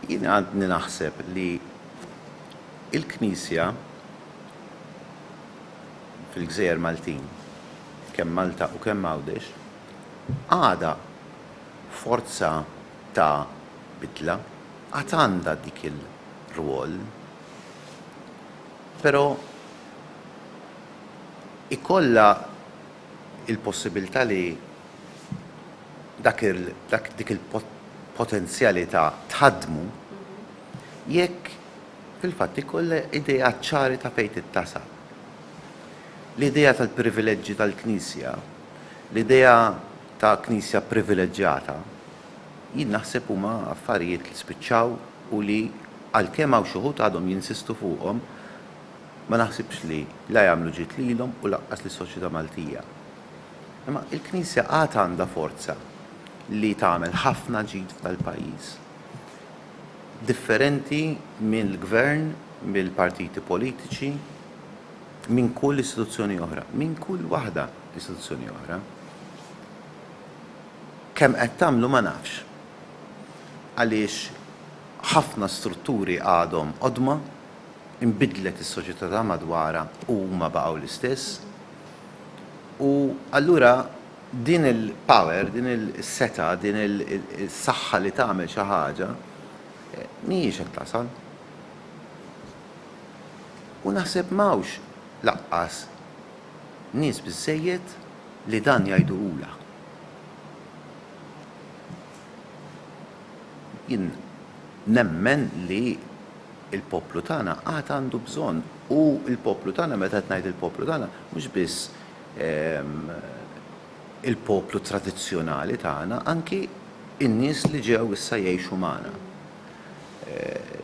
Jien għadni naħseb li l-Knisja fil-gżejjer Maltin, kemm Malta u kemm Għawdex, għadha forza ta' bidla, għad għandha dik il-rwol. Però ikollha il-possibilità li dak il, dak, dik il-potenzjalità tħaddmu jekk fil-fatt ikollha ideat ċari ta' fejn tittasal. L-idea tal-privileġġi tal-Knisja, l-idea ta' Knisja privileġġjata, jien naħseb huma affarijiet li spiċċaw u li għalkemm hawn xi wħud għadhom jinsistu fuqhom, Ma naħsibx li la jagħmlu ġid lilhom u lanqas lis-soċjetà Maltija. Imma il-Knisja għad għandha forza li tagħmel ħafna ġid f'dal-pajjiż. Differenti mill-Gvern, mill-partiti politiċi, minn kull istituzzjoni oħra, minn kull waħda istituzzjoni oħra. Kemm qed tagħmlu ma nafx. Għaliex ħafna strutturi għadhom qodma. inbidlet is-soċjetà ta' madwarha u huma baqgħu l-istess. U allura din il-power, din is-setgħa, din is-saħħa li tagħmel xi ħaġa mhijiex qed tasal. U naħseb m'hawnx lanqas nies biżżejjed li dan jgħiduhulha. Jien nemmen li il-poplu tagħna għad għandu bżonn, u l-poplu tagħna, meta qed ngħid il-poplu tagħna, mhux biss il-poplu tradizzjonali tagħna, anki n-nies li ġew issa jgħixu magħna,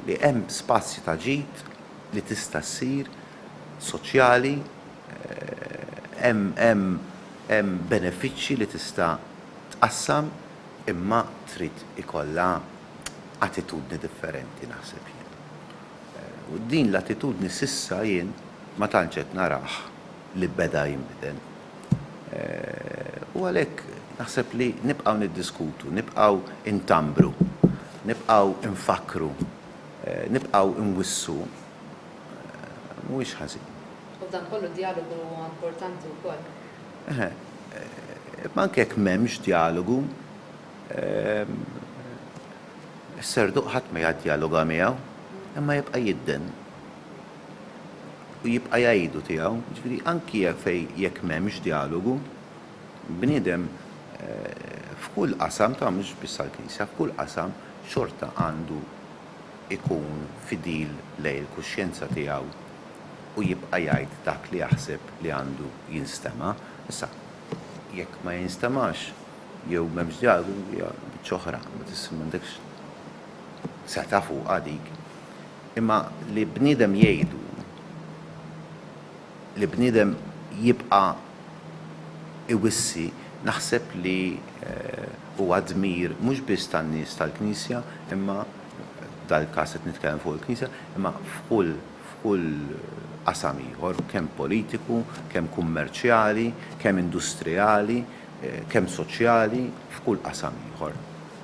li hemm spazji ta' ġid li tista' ssir soċjali, hemm benefiċċji li tista' tqassam, imma trid ikollha attitudni differenti naħseb jien. U din l-attitudni s'issa jien ma tantx qed narah li beda jinbidel. U għalhekk naħseb li nibqgħu niddiskutu, nibqgħu ntambru, nibqgħu nfakkru, nibqgħu nwissu mhuwiex ħażin. U f'dan kollu d-djalogu huwa importanti wkoll. Eħe, imma anke jekk m'hemmx djalogu, Is-serduq ħadd ma jaddjaloga miegħu, imma jibqa' jidden u jibqa' jgħidu tiegħu. Jiġifieri anki jekk m'hemmx djalogu, bniedem f'kull qasam, ta' mhux biss għall-Knisja, f'kull qasam xorta għandu jkun fidil lejn il-kuxjenza tiegħu u jibqa' jgħid dak li jaħseb li għandu jinstema'. Issa, jekk ma jinstemax, Jew m'hemmx djagu, hija biċċa oħra, ma tista' m'għandekx setgħa fuqha dik. Imma li bniedem jgħidu li bniedem jibqa' iwissi naħseb li huwa dmir mhux biss tan-nies tal-Knisja imma, f'dal-każ qed nitkellem fuq il-Knisja, imma f'kull. f'kull qasam ieħor, kemm politiku, kemm kummerċjali, kemm industrijali, kemm soċjali, f'kull qasam ieħor.